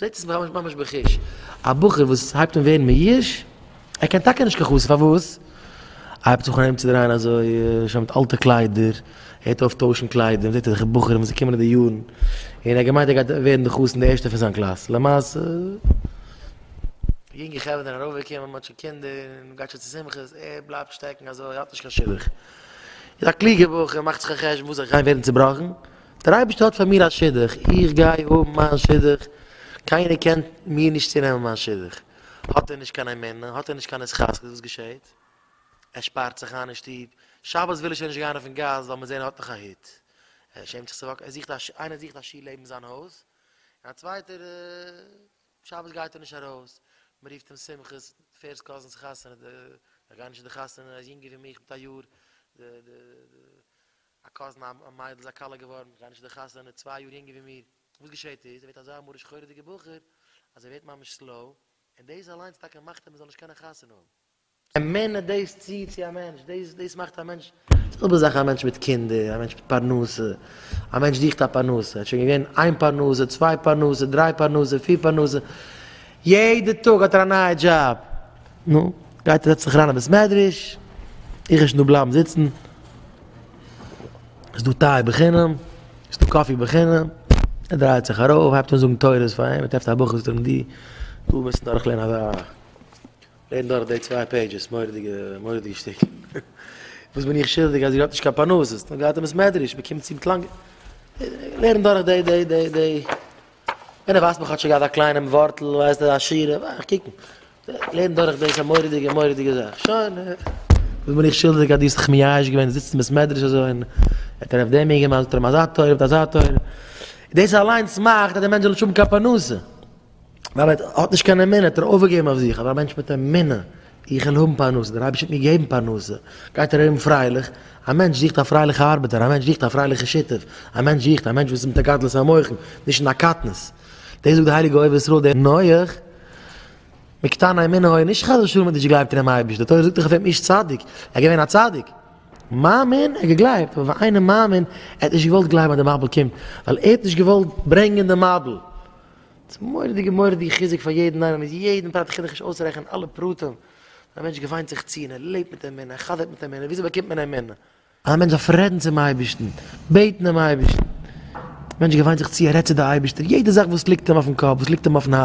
זעהט עס מיך ממש ממש בחוש, א בחור וואס הייבט אן ווערן מיואש, ער קען טאקע נישט קיין חסיד, פארוואס? הייבט זיך אן ארומצודרייען אזוי, שוין מיט אלטע קליידער, הערט אויף טוישן קליידער, מ'זעהט אזעלכע בחורים וואס זיי קומען אין די יארן, און ער האט געמיינט ער גייט ווערן די חתן די ערשטע פון זיין קלאס, למעשה, יונגע חברה זענען ארויפגעקומען, מ'האט שוין קינדער, מ'גייט שוין צו שמחות, ער בלייבט שטעקן אזוי, האט נישט קיין שידוך, איז א קלוגער בחור, מאכט זיך א חשבון, וואס זיך גיין ווערן צובראכן. דער אייבערשטער האט פאר מיר א שידוך, איך גיי האבן מיין שידוך, קיינער קען מיר נישט צונעמען מיין שידוך. האט ער נישט קיין אמונה, האט ער נישט קיין התחזקות, וואס געשעהט? ער שפארט זיך איין אין שטוב, שבת וויל ער שוין נישט גיין אויפן גאס ווייל מען זעהן ער האט נאך א היט, ער שעמט זיך צו וואקן, ער זוכט א שול, איינער זוכט א שול לעבן זיין הויז, און א צווייטער שבת גייט ער נישט ארויס, מען רופט אים שמחות, פערסט קאזינס חתונה, איך גיי נישט אין די חתונה, ער איז יונגער ווי מיך מיט א יאר, די די די. א קאזין א מיידל איז א כלה געווארן איך גיי נישט צו די חתונה צוויי יאר יונגער ווי מיר וואס געשעהט איז ער ווערט אזא מרה שחורה'דיגע בחור אז ער ווערט ממש סלאו און דאס אליינס טאקע מאכט אים ער זאל נישט קענען חתונה האבן. אמונה דאס ציעט צו א מענטש דאס דאס מאכט א מענטש די זעלבע זאך א מענטש מיט קינדער א מענטש מיט פרנסה א מענטש זוכט א פרנסה ער האט שוין געווען איין פרנסה צוויי פרנסה דריי פרנסה פיר פרנסה יעדע טאג האט ער א נייע דזשאב נו גייט ער זעצט זיך אריין אין בית מדרש איך וועל נישט דא בלייבן זיצן. איז דא טיי בחינם, איז דא קאפי בחינם, ער דרייט זיך ארויף, הייבט אן זאגן תורות פאר אים, ער טרעפט א בוך וואס דרינגט די, דא מוזט דורך לערנען אזא, לערן דורך די צוויי פעידזשעס, מורא'דיגע, מורא'דיגע שטיקל. וואס בין איך שולדיג אז איר האט נישט קיין פרנסה, ס'האט נאר געהאט אין בית מדרש, מען קומט צו מיט לאנגע, לערן דורך די, די, די, די, ווען ער ווייזט מיך כאטשיג אזא קליינעם ווארטל, ווייזט ער א שורה, ווארט, קוק, לערן דורך דאס א מורא'דיגע מורא'דיגע זאך, שוין וואס בין איך שולדיג אז דו האסט זיך מייאש געווען זיצן אין בית מדרש אזוי און האט ער אויף דעם איר געמאלדט האט ער אים אזא תורה האט אזא תורה, דאס אליינס מאכט אז דער מענטש זאל נישט האבן קיין פרנסה, ווייל ער האט נישט קיין אמונה, האט ער אויפגעגעבן אויף זיך, אבער א מענטש מיט אמונה, איך וויל האבן פרנסה, דער אייבערשטער וועט מיר געבן פרנסה, גייט ער ארום פרייליך, א מענטש זוכט א פרייליכע ארבעטער, א מענטש זוכט א פרייליכע שותף, א מענטש זוכט א מענטש וואס איז מיט א גדלות המוחין, נישט אין א קטנות. דאס זאגט די הייליגע אוהב ישראל דער נוח, מקטני אמונה היה, נישט חס ושלום האט נישט געגלייבט אינעם אייבערשטן, די תורה זאגט דאך אויף אים איש צדיק, ער איז געווען א צדיק, מאמין, ער האט געגלייבט, אבער ווען איינער מאמין, ער האט נישט געוואלט גלייבן אז דער מבול קומט, ווייל ער האט נישט געוואלט ברענגען דעם מבול. ס'איז מורא'דיגע מורא'דיגע חיזוק פאר יעדן איינעם, מ'איז יעדן פרט, כ'קען דאך נישט אויסרעכענען אלע פרטים, א מענטש געוויינט זיך צו און ער לעבט מיט אמונה, ער חזר'ט מיט אמונה, וויאזוי באקומט מען אמונה? א מענטש דארף רעדן צום אייבערשטן, בעטן דעם אייבערשטן, א מענטש געוויינט זיך צו, ער רעדט צו די אייבערשטער יעדע זאך וואס ליגט אים אויפן קאפ, וואס ליגט אים אויפן הארץ.